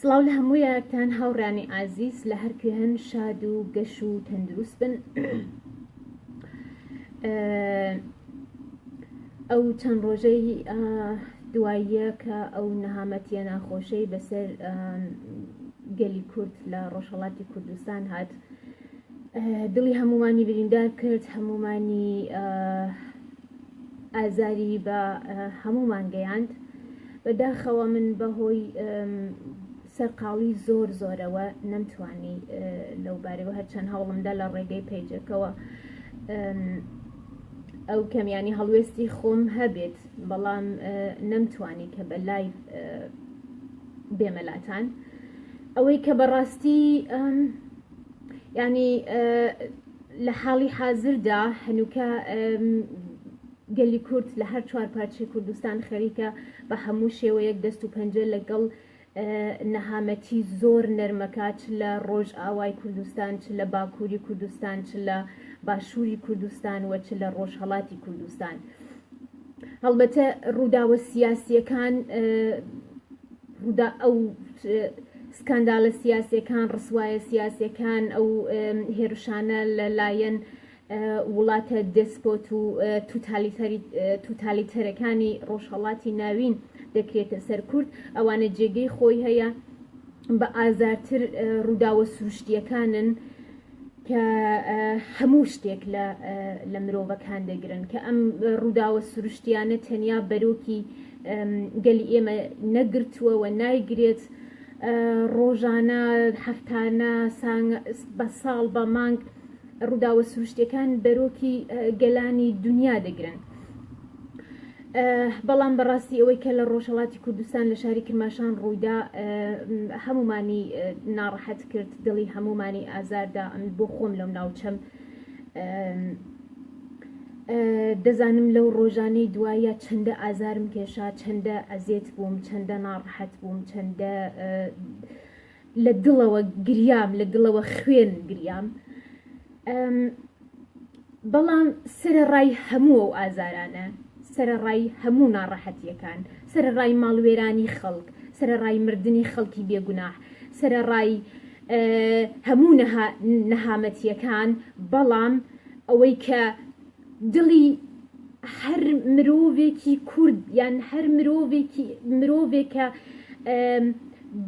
سڵاو لە هەموو یارتان هاوڕیانی ئازیز لە هەر کوێ هەن شاد و گەش و تەندروست بن ئەو چەند ڕۆژەی دواییە کە ئەو نەهامەتیە ناخۆشەی بەسەر گەلی کورد لە ڕۆژهڵاتی کوردستان هات دڵی هەمومانی بریندار کرد هەمومانی ئازاری بە هەموومان گەیاند بەداخەوە من بەهۆی سەرقاڵی زۆر زۆرەوە نەمتوانی لەو بارەوە هەرچەند هەوڵمدا لە ڕێگەی پیجەکەەوە ئەو کەمیانی هەڵوێستی خۆم هەبێت بەڵام نەمتوانی کە بە لای بێمەلاتان ئەوەی کە بەڕاستی ینی لە حاڵی حازردا هەنووکە گەلی کورد لە هەر چوار پارچی کوردستان خەریکە بە هەموو شێوەیەک دەست و پەنجە لەگەڵ نەهامەتی زۆر نەرمەکە چ لە ڕۆژ ئاوای کوردستان چ لە باکووری کوردستان چ لە باشووری کوردستان وە چ لە ڕۆژهڵاتی کوردستان. هەڵبەتە ڕووداوە سیاسیەکان ڕوودا ئەو سکاندالە سیاسەکان ڕسوایە سیاسەکان ئەو هێرشانە لەلایەن وڵاتە دەسپۆت و توتالیتەرەکانی ڕۆژهەڵاتی ناوین دەکرێتە سەر کورد ئەوانە جێگەی خۆی هەیە بە ئازارتر ڕووداوە سروشتیەکانن کە هەموو شتێک لە مرۆڤەکان دەگرن، کە ئەم ڕووداوە سروشتیانە تەنیا بەرۆکی گەلی ئێمە نەگرتووە و نایگرێت، ڕۆژانە، هەفتانە، بە ساڵ، بە مانگ ڕووداوە سروشتیەکان بەرۆکی گەلانی دنیا دەگرن. بەڵام بەڕاستی ئەوەی کە لە ڕۆژهەڵاتی کوردستان لە شاری کرماشان ڕوویدا هەمومانی ناڕەحەت کرد دڵی هەمومانی ئازاردا ئەم بۆ خۆم لەم ناوچەم دەزانم لەو ڕۆژانەی دوایە چەندە ئازارم کێشا چەندە ئەزێت بووم چەندە ناڕحەت بووم چەندە لە دڵەوە گریام لە دڵەوە خوێن گریام بەڵام سەرەڕای هەموو ئەو ئازارانە سەرەڕای هەموو ناڕەحەتیەکان سەرەڕای ماڵوێرانی خەڵک سەرەڕای مردنی خەڵکی بێگوناح سەرەڕای هەموو نەهامەتیەکان بەڵام ئەوەی کە دڵی هەر مرۆڤێکی کورد یان هەر مرۆڤێکی مرۆڤێکە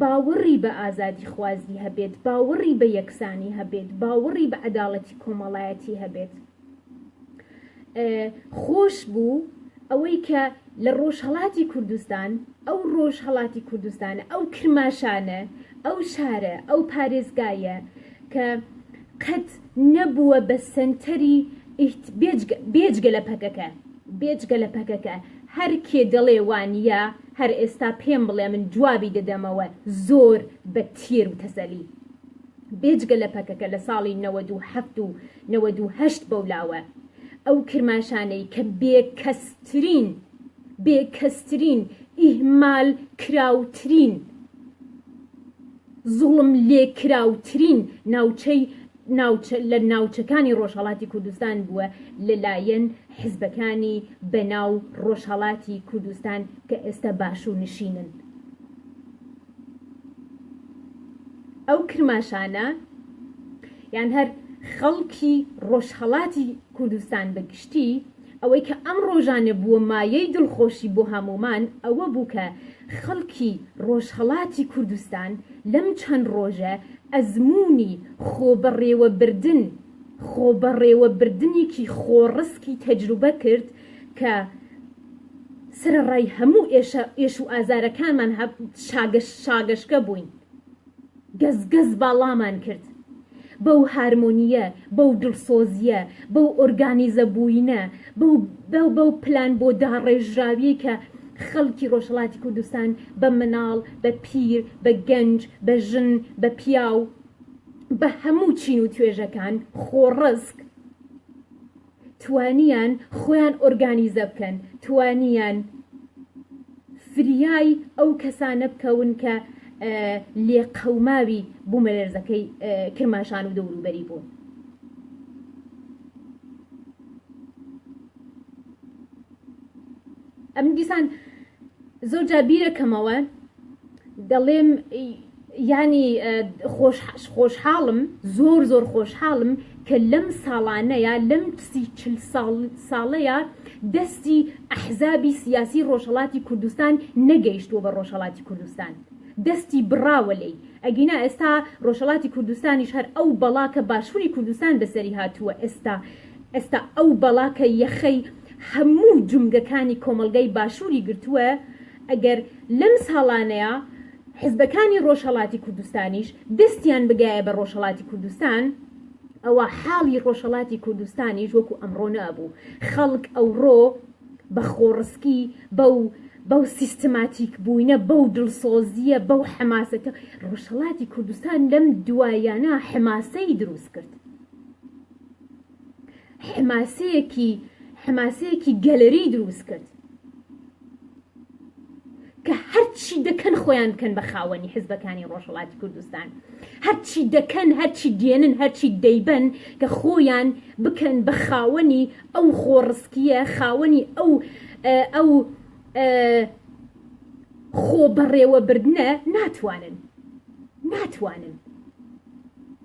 باوەڕی بە ئازادی خوازی هەبێت باوەڕی بە یەکسانی هەبێت باوەڕی بە عەداڵەتی کۆمەڵایەتی هەبێت خۆش بوو ئەوەی کە لە ڕۆژهڵاتی کوردستان ئەو ڕۆژهڵاتی کوردستانە ئەو کرماشانە ئەو شارە ئەو پارێزگایە کە قەت نەبووە بە سەنتەری ئیت بێجگە بێجگە لە پەکەکە بێجگە لە پەکەکە هەر کێ دەڵێ وانیە هەر ئێستا پێم بڵێ من جوابی دەدەمەوە زۆر بە تێر و تەسەلی بێجگە لە پەکەکە لە ساڵی نەوەد و حەفت و نەوەد و هەشت بەولاوە ئەو کرماشانەی کە بێ کەسترین بێ کەسترین ئیهمال کراوترین. زوڵم لێکراوترین ناوچەی ناوچە لە ناوچەکانی ڕۆژهەڵاتی کوردستان بووە لەلایەن حزبەکانی بەناو ڕۆژهەڵاتی کوردستان کە ئێستا باشوور نشینن ئەو کرماشانە یان هەر خەڵکی ڕۆژهەڵاتی کوردستان بەگشتی ئەوەی کە ئەم ڕۆژانە بووە مایەی دڵخۆشی بۆ هەموومان ئەوە بوو کە خەڵکی ڕۆژهەڵاتی کوردستان لەم چەند ڕۆژە ئەزموونی خۆبەڕێوەبردن خۆبەڕێوەبردنێکی خۆڕسکی تەجروبە کرد کە سەرەڕای هەموو ئێش و ئازارەکانمان شاگەشکە بووین. گەز گەز باڵامان کرد بەو هارمۆنییە، بەو دڵسۆزییە، بەو ئۆرگانیزە بووینە، بەو بەو پلان بۆ داڕێژراویەی کە خەڵکی ڕۆژهەڵاتی کوردستان بە مناڵ، بە پیر، بە گەنج، بە ژن، بە پیاو، بە هەموو چین و توێژەکان، خۆڕسک. توانیان خۆیان ئۆرگانیزە بکەن، توانیان فریای ئەو کەسانە بکەون کە لێقەوماوی بومەلەرزەکەی کرماشان و دەوروبەری بوون. ئەمن دیسان زۆر جار بیرەکەمەوە دەڵێم یانی خۆشحاڵم زۆر زۆر خۆشحاڵم کە لەم ساڵانەیە لەم سی چل ساڵەیە دەستی ئەحزابی سیاسی ڕۆژهڵاتی کوردستان نەگەیشتووە بە ڕۆژهڵاتی کوردستان دەستی بڕاوە لی ئەگینا ئێستا ڕۆژهڵاتی کوردستانیش هەر ئەو بەڵا کە باشووری کوردستان بەسەری هاتووە ئێستا ئێستا ئەو بەڵا کە یەخەی هەموو جومگەکانی کۆمەڵگای باشوری گرتووە، ئەگەر لەم ساڵانەیا حزبەکانی ڕۆژهەڵاتی کوردستانیش دەستیان بگایە بە ڕۆژهەڵاتی کوردستان، ئەوا حاڵی ڕۆژهەڵاتی کوردستانیش وەکو ئەمڕۆ نەئەبوو، خەڵک ئەوڕۆ بە خۆڕسکی بەو بەو سیستماتیک بووینە، بەو دڵسۆزیە، بەو حەماسەتە، ڕۆژهەڵاتی کوردستان لەم دواییانە حەماسەی دروست کرد، حماسەیەکی حماسەیەکی گەلەری دروست کرد کە هەرچی دەکەن خۆیان بکەن بە خاوەنی حزبەکانی ڕۆژهڵاتی کوردستان هەرچی دەکەن هەرچی دێنن هەرچی دەیبەن کە خۆیان بکەن بە خاوەنی ئەو خۆڕسکیە خاوەنی ئەو ئەو خۆ بەڕێوەبردنە ناتوانن ناتوانن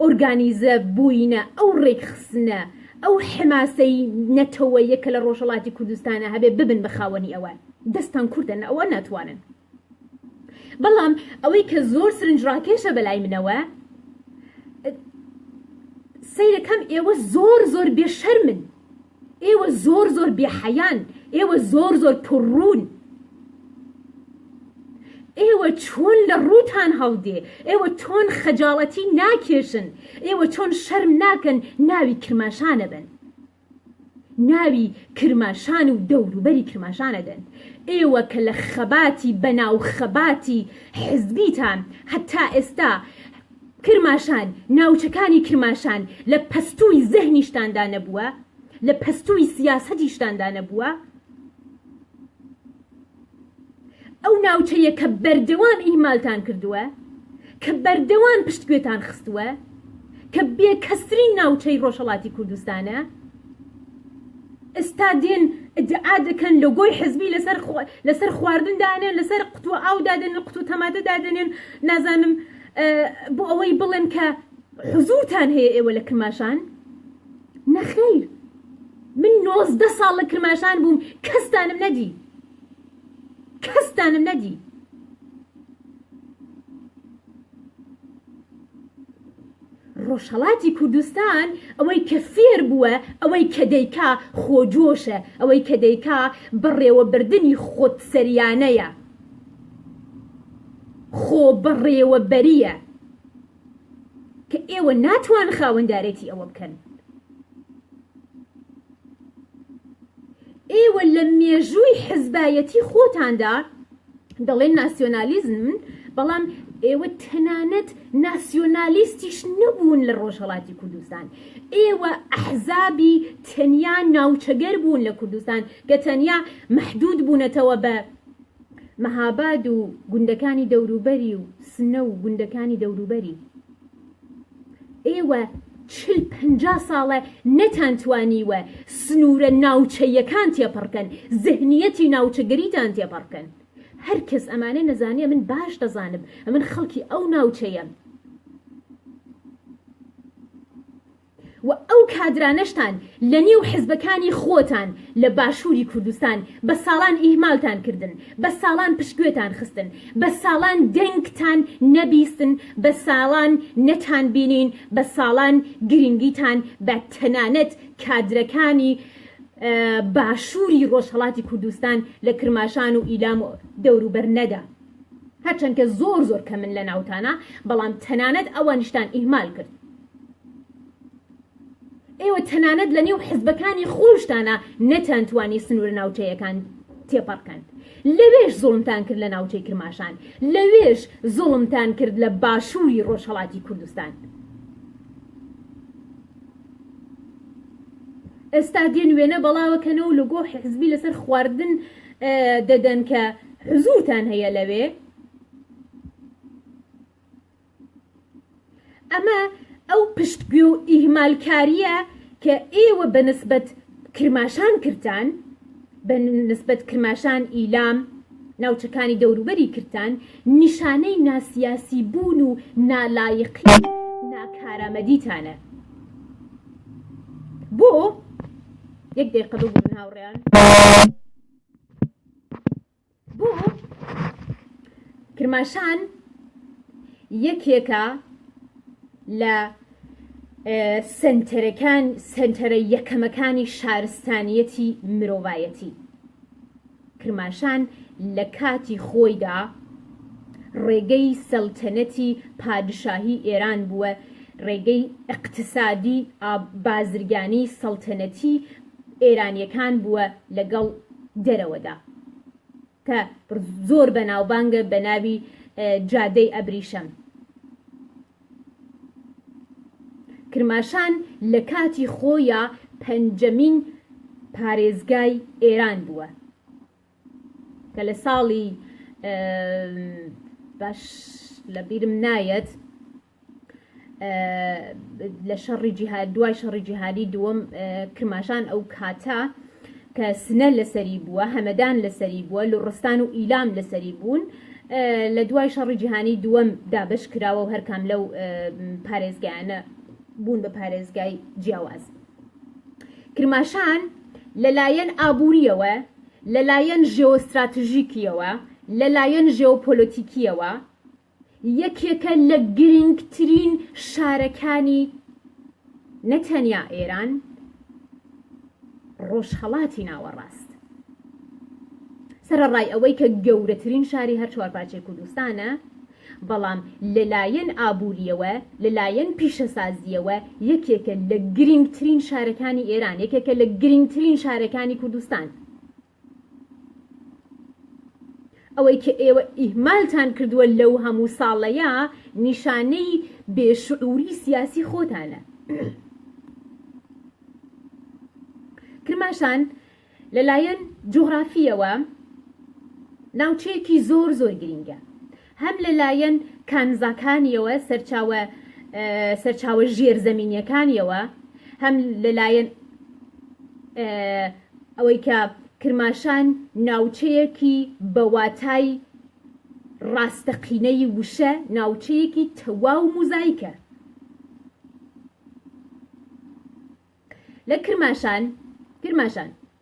ئۆرگانیزە بووینە، ئەو ڕێکخستنە، ئەو حەماسەی نەتەوەیە کە لە ڕۆژهەڵاتی کوردستانا هەبێ ببن بە خاوەنی ئەوان. دەستان کورتە نە ئەوان ناتوانن. بەڵام ئەوەی کە زۆر سرنجڕاکێشە بەلای منەوە سەیرە کەم ئێوە زۆر زۆر بێ شەرمن ئێوە زۆر زۆر بێ حەیان ئێوە زۆر زۆر پڕڕون ئێوە چۆن لە ڕووتان هەڵدێ ئێوە چۆن خەجاڵەتی ناکێشن ئێوە چۆن شەرم ناکەن ناوی کرماشانە بن ناوی کرماشان و دەوروبەری کرماشانە دەن ئێوە کە لە خەباتی بەناو خەباتی حزبیتان هەتا ئێستا کرماشان، ناوچەکانی کرماشان لە پەستووی زەهنیشتاندا نەبووە، لە پەستووی سیاسەتیشتاندا نەبووە، ئەو ناوچەیە کە بەردەوام ئیهمالتان کردووە، کە بەردەوام پشتگوێتان خستووە، کە بێکەسترین ناوچەی ڕۆژهەڵاتی کوردستانە، ئێستا دێن ئیدعا دەکەن لۆگۆی حزبی لەسەر خواردن دانێن، لەسەر قوتووە ئاو دادەنێن، قوتووە تەماتە دادەنێن، نازانم بۆ ئەوەی بڵێن کە حزورتان هەیە ئێوە لە کرماشان نەخیر من نۆزدە ساڵ لە کرماشان بووم کەستانم نەدی کەستانم نەدی ڕۆژهڵاتی کوردستان ئەوەی کە فێر بووە ئەوەی کە دەیکا خۆجۆشە ئەوەی کە دەیکا بەڕێوەبردننی خۆت سەریانەیە خۆبەڕێوەبەرییە کە ئێوە ناتوان خاوەندارێتی ئەوە بکەن ئێوە لە مێژووی حزبایەتی خۆتاندا دەڵێن ناسیۆنالیزم بەڵام ئێوە تەنانەت ناسیۆنالیستیش نەبوون لە ڕۆژهڵاتی کوردستان ئێوە ئەحزابی تەنیا ناوچەگەر بوون لە کوردستان کە تەنیا محدود بوونەتەوە بە مەهاباد و گوندەکانی دەوروبەری و سنە و گوندەکانی دەوروبەری ئێوە چل پنجا ساڵە نەتان توانیوە سنوورە ناوچەیەکان تێپڕکەن زهنیەتی ناوچەگەریتان تێپەڕکەن هەر کەس ئەمانە نەزانێ من باش دەزانم ئەمن خەڵکی ئەو ناوچەیەم و ئەو کادرانەشتان لە نێو حزبەکانی خۆتان لە باشوری کوردستان بە ساڵان ئیهمالتان کردن، بە ساڵان پشتگوێتان خستن، بە ساڵان دەنگتان نەبیستن، بە ساڵان نەتان بینین، بە ساڵان گرینگیتان بە تەنانەت کادرەکانی باشوری ڕۆژهەڵاتی کوردستان لە کرماشان و ئیلام و دەوروبەر نەدا. هەرچەند کە زۆر زۆر کەمن لە ناوتانا بەڵام تەنانەت ئەوانیشتان ئیهمال کرد ئێوە تەنانەت لە نێو حزبەکانی خۆشتانە نەتان توانی سنوورە ناوچەیەکان تێپەڕکەن لەوێش زوڵمتان کرد لە ناوچەی کرماشان لەوێش زوڵمتان کرد لە باشووری ڕۆژهڵاتی کوردستان ئێستا دێن وێنە بەڵاوەکەنەوە لە گۆ حزبی لەسەر خواردن دەدەن کە حزورتان هەیە لەوێ ئەمە ئەو پشتگوێ و ئیهمالکاریە کە ئێوە بە نسبەت کرماشان کرتان بە نسبەت کرماشان ئیلام ناوچەکانی دەوروبەری کرتان نیشانەی ناسیاسی بوون و نالایقی ناکارامەدیتانە بۆ یەک دقیقە ببوون هاوڕێیان بۆ کرماشان یەکێکە لە سنتەرەکان سنتەرە یەکەمەکانی شارستانیەتی مرۆڤایەتی کرماشان لە کاتی خۆیدا ڕێگەی سەلتەنەتی پادشاهی ئێران بووە، ڕێگەی ئیقتسادی ئا بازرگانی سەلتەنەتی ئێرانیەکان بووە لە گەڵ دەرەوەدا کە زۆر بەناوبانگە بە ناوی جادەی ئەبریشەم. کرماشان لە کاتی خۆیا پەنجەمین پارێزگای ئێران بووە کە لە ساڵی باش لە بیرم نایەت لە شەڕی جیهاد دوای شەڕی جیهادی دووەم کرماشان ئەو کاتە کە سنە لەسەری بووە، هەمەدان لەسەری بووە، لوڕستان و ئیلام لەسەری بوون، لە دوای شەڕی جیهانی دووەم دابەش کراوە و هەر کام لەو پارێزگایانە بوون بە پارێزگای جیاواز. کرماشان لە لایەن ئابوورییەوە، لە لایەن ژێۆستراتژیکییەوە، لە لایەن ژێۆپۆلۆتیکییەوە، یەکێکە لە گرنگترین شارەکانی نە تەنیا ئێران ڕۆژهەڵاتی ناوەڕاست. سەرەڕای ئەوەی کە گەورەترین شاری هەر چوارپارچەی کوردستانە، بەڵام لەلایەن ئابووریەوە، لەلایەن پیشەسازییەوە یەکێکە لە گرنگترین شارەکانی ئێران، یەکێکە لە گرنگترین شارەکانی کوردستان. ئەوەی کە ئێوە ئیهمالتان کردووە لەو هەموو ساڵەیا نیشانەی بێ شعوری سیاسی خۆتانە. کرماشان لەلایەن جوغرافیەوە ناوچەیەکی زۆر زۆر گرینگە هەم لە لایەن کانزاکانیەوە سەرچاوە سەرچاوە ژێر زەمینیەکانیەوە هەم لە لایەن ئەوەی کە کرماشان ناوچەیەکی بەواتای ڕاستەقینەی وشە ناوچەیەکی تەواو موزایکە لە کرماشان کرماشان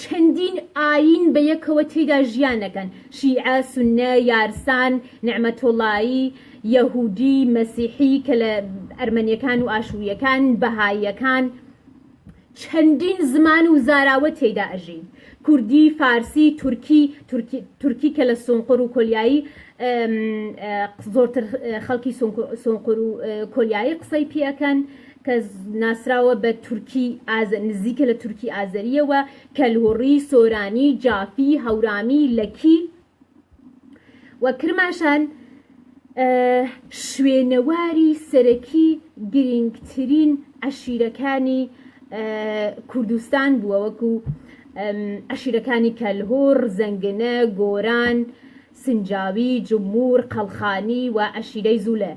چەندین ئایین بە یەکەوە تێیدا ژیان دەکەن، شیعە، سوننە، یارسان، نەعمەتوڵایی، یەهوودی، مەسیحی، کە لە ئەرمەنییەکان و ئاشوورییەکان، بەهاییەکان. چەندین زمان و زاراوە تێیدا ئەژین، کوردی، فارسی، تورکی، تورکی کە لە سونقور و کۆلیایی زۆرتر خەڵکی سونقور و کۆلیایی قسەی پێ ئەکەن، کە ناسراوە بە تورکی ئازەری، نزیکە لە تورکی ئازەرییەوە، کەلهوڕی، سۆرانی، جافی، هەورامی، لەکی و کرماشان شوێنەواری سەرەکی گرینگترین عەشیرەکانی کوردستان بووە وەکو عەشیرەکانی کەلهوڕ، زەنگنە، گۆران، سنجاوی، جمور، قەڵخانی و عەشیرەی زولێ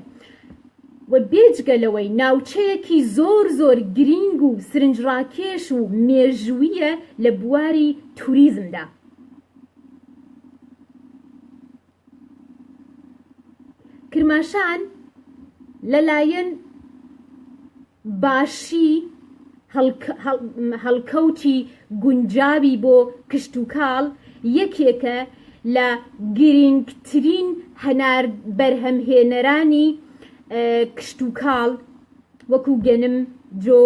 و بێجگە لەوەی ناوچەیەکی زۆر زۆر گرینگ و سرنجڕاکێش و مێژووییە لە بواری توریزمدا. کرماشان لەلایەن باشی هەڵکەوتی گونجاوی بۆ کشتوکاڵ یەکێکە لە گرینگترین هەنار بەرهەمهێنەرانی کشتوکاڵ وەکو گەنم، جۆ،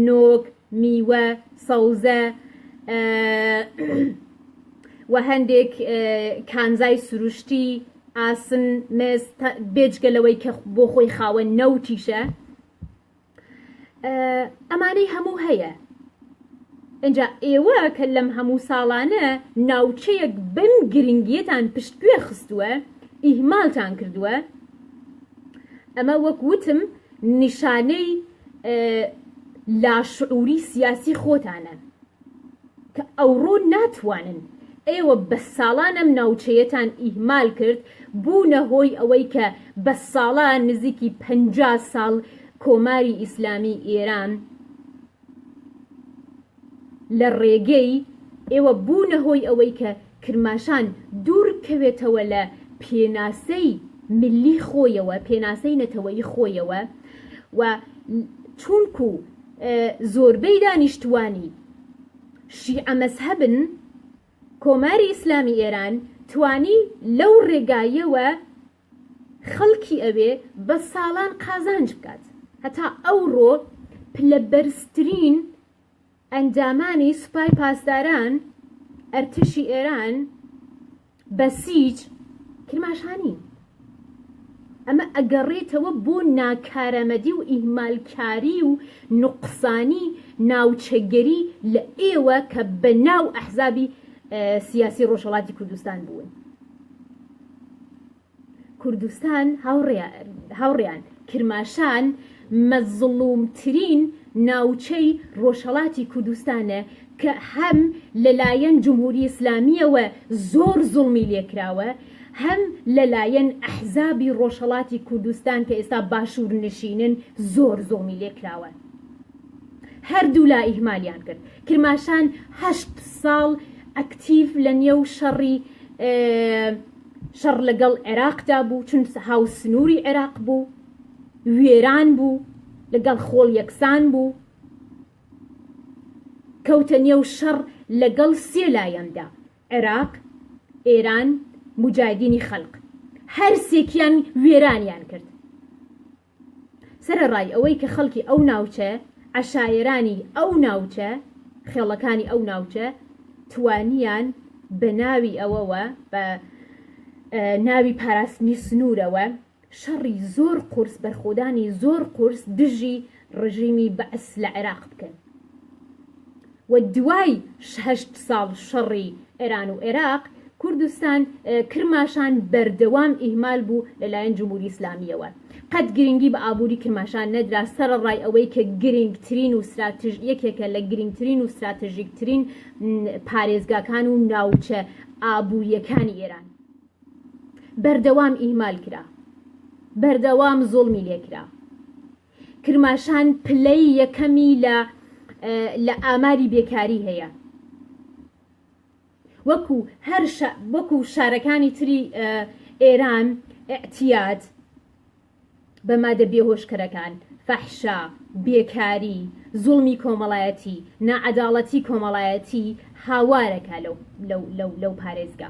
نۆک، میوە، سەوزە و هەندێک کانزای سروشتی. ئاسن، مێز، تا بێجگە لەوەی کە بۆ خۆی خاوەن نەوتیشە ئەمانەی هەموو هەیە ئەجا ئێوە کە لەم هەموو ساڵانە ناوچەیەک بم گرنگیەتان پشتگوێ خستووە ئیهمالتان کردووە ئەمە وەک وتم نیشانەی لاشعوری سیاسی خۆتانە کە ئەوڕۆ ناتوانن. ئێوە بە ساڵان ئەم ناوچەیەتان ئیهمال کرد، بوونە هۆی ئەوەی کە بە ساڵان نزیکی پەنجا ساڵ کۆماری ئیسلامیی ئێران لە ڕێگەی ئێوە بوونە هۆی ئەوەی کە کرماشان دوور کەوێتەوە لە پێناسەی ملی خۆیەوە، پێناسەی نەتەوەیی خۆیەوە و چوونکو زۆربەی دانیشتوانی شیعە مەزهەبن، کۆماری ئیسلامی ئێران توانی لەو ڕێگایەوە خەڵکی ئەوێ بە ساڵان قازانج بکات، هەتا ئەوڕۆ پلە بەرزترین. ئەندامانی سوپای پاسداران ئەرتشی ئێران، بەسیج، کرماشانین. ئەمە ئەگەڕێتەوە بۆ ناکارامەدی و ئیهمالکاری و نوقسانی ناوچەگەری لە ئێوە کە بە ناو ئەحزابی سیاسی ڕۆژهەڵاتی کوردستان بوون. کوردستان هاوڕێیان، کرماشان مەزڵوومترین ناوچەی ڕۆژهەڵاتی کوردستانە کە هەم لەلایەن جمهوری ئیسلامییەوە زۆر زوڵمی لێکراوە، هەم لەلایەن ئەحزابی ڕۆژهەڵاتی کوردستان کە ئێستا باشوورنشینن زۆر زوڵمی لێکراوە. هەردوولا ئیهمالیان کرد. کرماشان هەشت ساڵ ئەکتیڤ لەنێو شەڕی، شەڕ لەگەڵ عێراقدا بوو، چون هاو سنووری عێراق بوو، وێران بوو، لەگەڵ خۆڵ یەکسان بوو، کەوتە نێو شەڕ لەگەڵ سێ لایەندا، عێراق، ئێران، موجاهیدینی خەلق، هەر سێکیان وێرانیان کرد. سەرەڕای ئەوەی کە خەڵکی ئەو ناوچە، عەشایەرانی ئەو ناوچە، خێڵەکانی ئەو ناوچە توانیان بە ناوی ئەوەوە، بە ناوی پاراستنی سنوورەوە شەڕی زۆر قوورس، بەرخۆدانی زۆر قوورس دژی ڕژیمی بەعس لە عێراق بکەن. و دوای هەشت ساڵ شەڕی ئێران و عێراق، کوردستان، کرماشان بەردەوام ئیهمال بوو لەلایەن جمهوری ئیسلامییەوە. قەت گرنگی بە ئابووری کرماشان نەدرا سەرەڕای ئەوەی کە گرنگترین و ستراتژ یەکێکە لە گرنگترین و ستراتژیکترین پارێزگاکان و ناوچە ئابوورییەکانی ئێران بەردەوام ئیهمال کرا، بەردەوام زوڵمی لێ کرا. کرماشان پلەی یەکەمی لە لە ئاماری بێکاری هەیە وەکو هەر وەکو شارەکانی تری ئێران ئەتیاد بە مادە بێهۆشکەرەکان فەحشا بێکاری زوڵمی کۆمەڵایەتی نەعەداڵەتی کۆمەڵایەتی هاوارەکە لەو لەو لەو لەو پارێزگا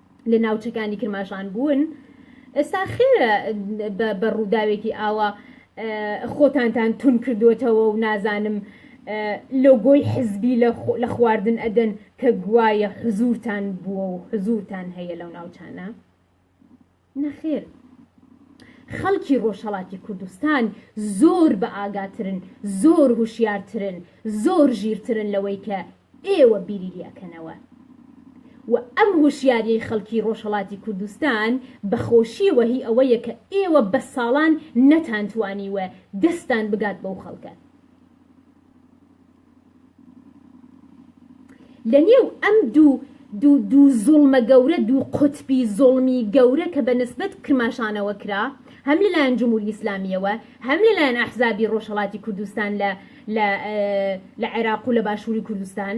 لە ناوچەکانی کرماشان بوون ئێستا خێرە بە ڕووداوێکی ئاوا خۆتانتان تون کردوێتەوە و نازانم لۆگۆی حزبی لە خواردن ئەدەن کە گوایە حزورتان بووە و حزورتان هەیە لەو ناوچانە نەخێر خەڵکی ڕۆژهڵاتی کوردستان زۆر بە ئاگاترن زۆر هوشیارترن زۆر ژیرترن لەوەی کە ئێوە بیریی ئەکەنەوە و ئەم هۆشیاریەی خەڵکی ڕۆژهەڵاتی کوردستان بە خۆشیەوە هی ئەوەیە کە ئێوە بە ساڵان نەتانتوانیوە دەستتان بگات بەو خەڵکە لە نێو ئەم دوو دوو دوو زوڵمە گەورە دوو قوتبی زوڵمی گەورە کە بە نسبەت کرماشانەوە کرا هەم لەلایەن جموری ئیسلامیەوە هەم لەلایەن ئەحزابی ڕۆژهەڵاتی کوردستان لە لە لە عێراق و لە باشووری کوردستان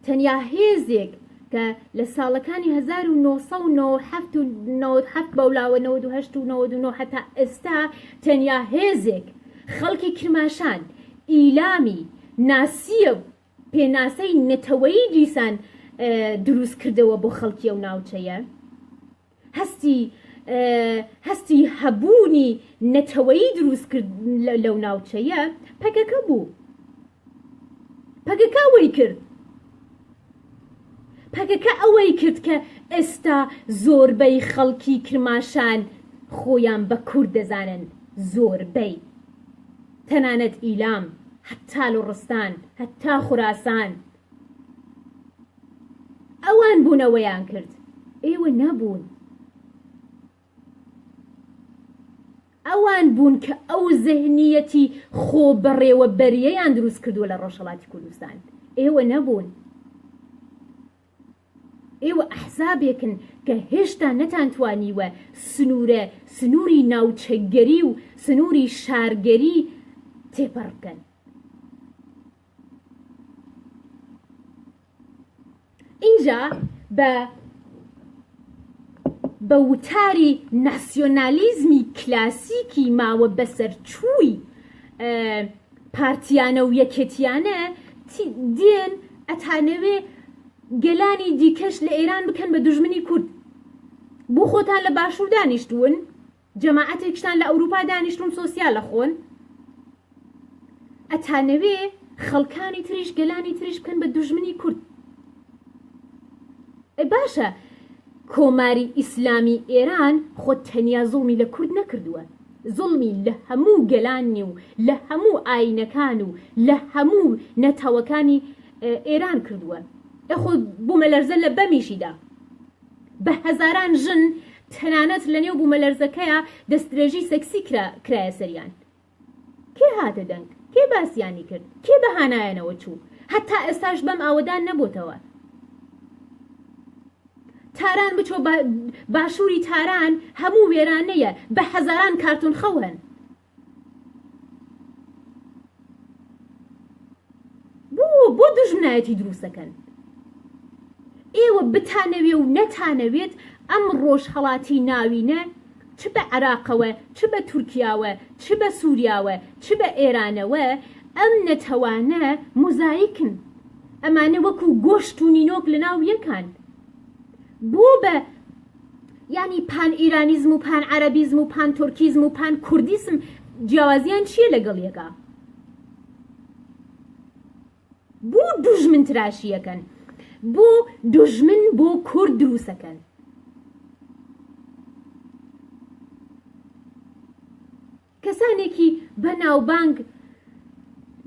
تەنیا هێزێک کە لە ساڵەکانی 1970 بەولاوە 1970 هەتا ئێستا تەنیا هێزێک خەڵکی کرماشان ئیلامی ناسیە پێناسەی نەتەوەی دیسان دروست کردەوە بۆ خەڵکی ئەو ناوچەیە هەستی هەستی هەبوونی نەتەوەیی دروست کرد لەو ناوچەیە پەکەکە بوو پەکەکە وەی کرد پەکەکە ئەوەی کرد کە ئێستا زۆربەی خەڵکی کرماشان خۆیان بە کورد دەزانن زۆربەی تەنانەت ئیلام هەتا لوڕستان هەتا خوراسان ئەوان بوون ئەوەیان کرد ئێوە نەبوون ئەوان بوون کە ئەو زهنیەتی خۆ بەڕێوە بەریەیان دروست کردووە لە ڕۆژهڵاتی کوردستان ئێوە نەبوون ئێوە ئەحزابێکن کە هێشتا نەتانتوانیوە سنوورە سنووری ناوچەگەری و سنووری شارگەری تێپەڕکەن ئینجا بە بە وتاری ناسیۆنالیزمی کلاسیکی ماوە بەسەرچووی پارتیانە و یەکێتیانە دێن ئەتانەوێ گەلانی دیکەش لە ئێران بکەن بە دژمنی کورد بۆ خۆتان لە باشوور دانیشتوون جەماعەتێکشتان لە ئەوروپا دانیشتون سۆسیال ئەخۆن ئەتانەوێ خەڵکانی تریش گەلانی تریش بکەن بە دوژمنی کورد ئە باشە کۆماری ئیسلامی ئێران خۆ تەنیا زوڵمی لە کورد نەکردووە زوڵمی لە هەموو گەلانی و لە هەموو ئاینەکان و لە هەموو نەتەوەکانی ئێران کردووە ئەخۆ بوومەلەرزە لە بەمیشیدا بە هەزاران ژن تەنانەت لە نێو بوومەلەرزەکەیا دەستدرێژی سێکسی کرایە سەریان. کێ هاتە دەنگ؟ کێ باسیانی کرد؟ کێ بە هانایانەوە چوو؟ هەتا ئێستاش بەم ئاوەدان نەبۆتەوە. تاران بچۆ باشووری تاران هەموو وێرانەیە بە هەزاران کارتۆن خەو هەن. بۆ بۆ دژمنایەتی دروستەکەن ئێوە بتانەوێ و نەتانەوێت ئەم ڕۆژهەڵاتی ناوینە چ بە عراقەوە چ بە تورکیاوە چ بە سوریاوە چ بە ئێرانەوە ئەم نەتەوانە مۆزایکن ئەمانە وەکو گۆشت و نینۆک لە ناو یەکان بۆ بە یانی پان ئیرانیزم و پان عەرەبیزم و پان تورکیزم و پان کوردیسم جیاوازیان چییە لەگەڵ یەکە بۆ دوژمن تراشیەکەن بۆ دوژمن بۆ کورد دروستەکەن کەسانێکی بە ناوبانگ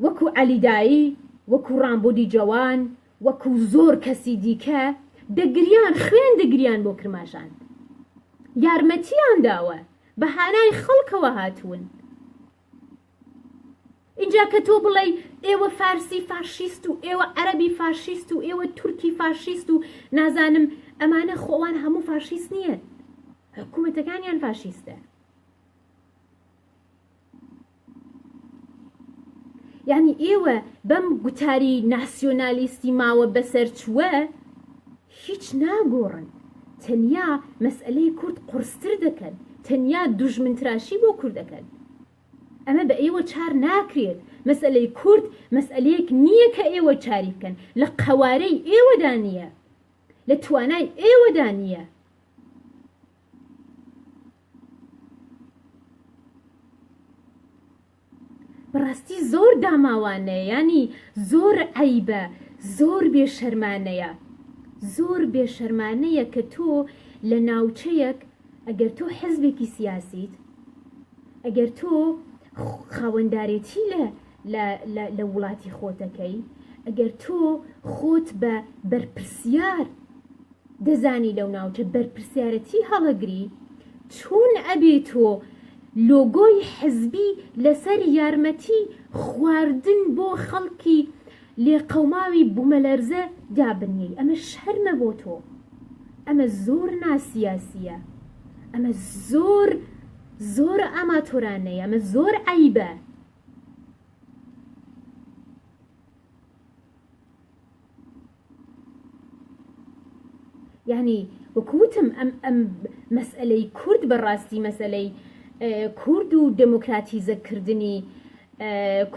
وەکو عەلی دایی، وەکو ڕامبودی جەوان، وەکو زۆر کەسی دیکە دەگریان خوێن دەگریان بۆ کرماشان یارمەتیان داوە بە هانای خەڵکەوە هاتوون. ئینجا کە تۆ بڵێی ئێوە فارسی فاشیست و ئێوە عەربی فاشیست و ئێوە تورکی فاشیست و نازانم ئەمانە خۆوان هەموو فاشیست نییە حکوومەتەکانیان فاشیستە. یانی ئێوە بەم گوتاری ناسیۆنالیستی ماوە بەسەرچووە هیچ ناگۆڕن تەنیا مەسئلەی کورد قڕستر دەکەن تەنیا دوژمنتراشی بۆ کوردەکەن ئەمە بە ئێوە چار ناکرێت مەسئلەی کورد مەسئلەیەک نییە کە ئێوە چاری بکەن لە قەوارەی ئێوەدا نییە لە توانای ئێوەدا نییە بەڕاستی زۆر داماوانەیە ینی زۆر عیبە زۆر بێشەرمانەیە زۆر بێشەرمانەیە کە تۆ لە ناوچەیەک ئەگەر تۆ حزبێکی سیاسیت ئەگەر تۆ خاوەندارێتی لە لە لە لە وڵاتی خۆتەکەی ئەگەر تۆ خۆت بە بەرپرسیار دەزانی لەو ناوچە بەرپرسیارەتی هەڵەگری چون ئەبێ تۆ لۆگۆی حزبی لەسەر یارمەتی خواردن بۆ خەڵکی لێقەوماوی بومەلەرزە دابنیی ئەمە شەرمە بۆ تۆ ئەمە زۆر ناسیاسیە ئەمە زۆر زۆر ئاماتۆرانەیە ئەمە زۆر عیبە یعنی وەکو وتم ئەم ئەم مەسئلەی کورد بەڕاستی مەسئلەی کورد و دموکراتیزەکردنی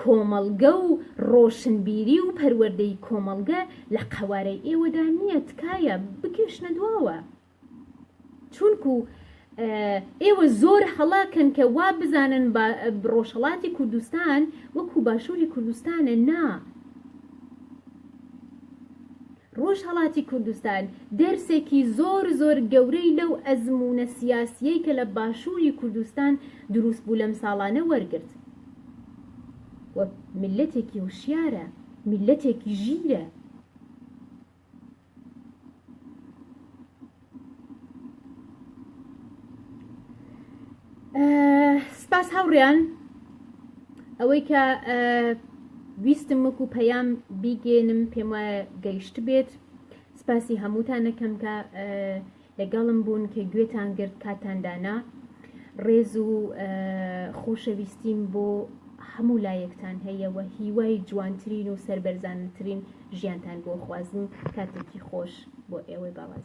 کۆمەڵگە و ڕۆشنبیری و پەروەردەی کۆمەڵگە لە قەوارەی ئێوەدا نییە تکایە بکێشنە دواوە چونکو ئێوە زۆر هەڵە کەن کە وا بزانن ڕۆژهڵاتی کوردستان وەکو باشووری کوردستانە نا ڕۆژهڵاتی کوردستان دەرسێکی زۆر زۆر گەورەی لەو ئەزمونە سیاسیەی کە لە باشووری کوردستان دروست بوو لەم ساڵانە وەرگرت ملەتێکی وشیارە ملەتێکی ژیرە سپاس هاوڕیان ئەوەی کە ویستم وەکو پەیام بیگەێنم پێم وایە گەیشت بێت سپاسی هەمووتانەکەم کە لەگەڵم بوون کە گوێتان گرت کاتان دانا ڕێز و خۆشەویستیم بۆ هەموو لایەکتان هەیە و هیوای جوانترین و سەربەرزانترین ژیانتان بۆ خوازم کاتێکی خۆش بۆ ئێوەی بەڕێز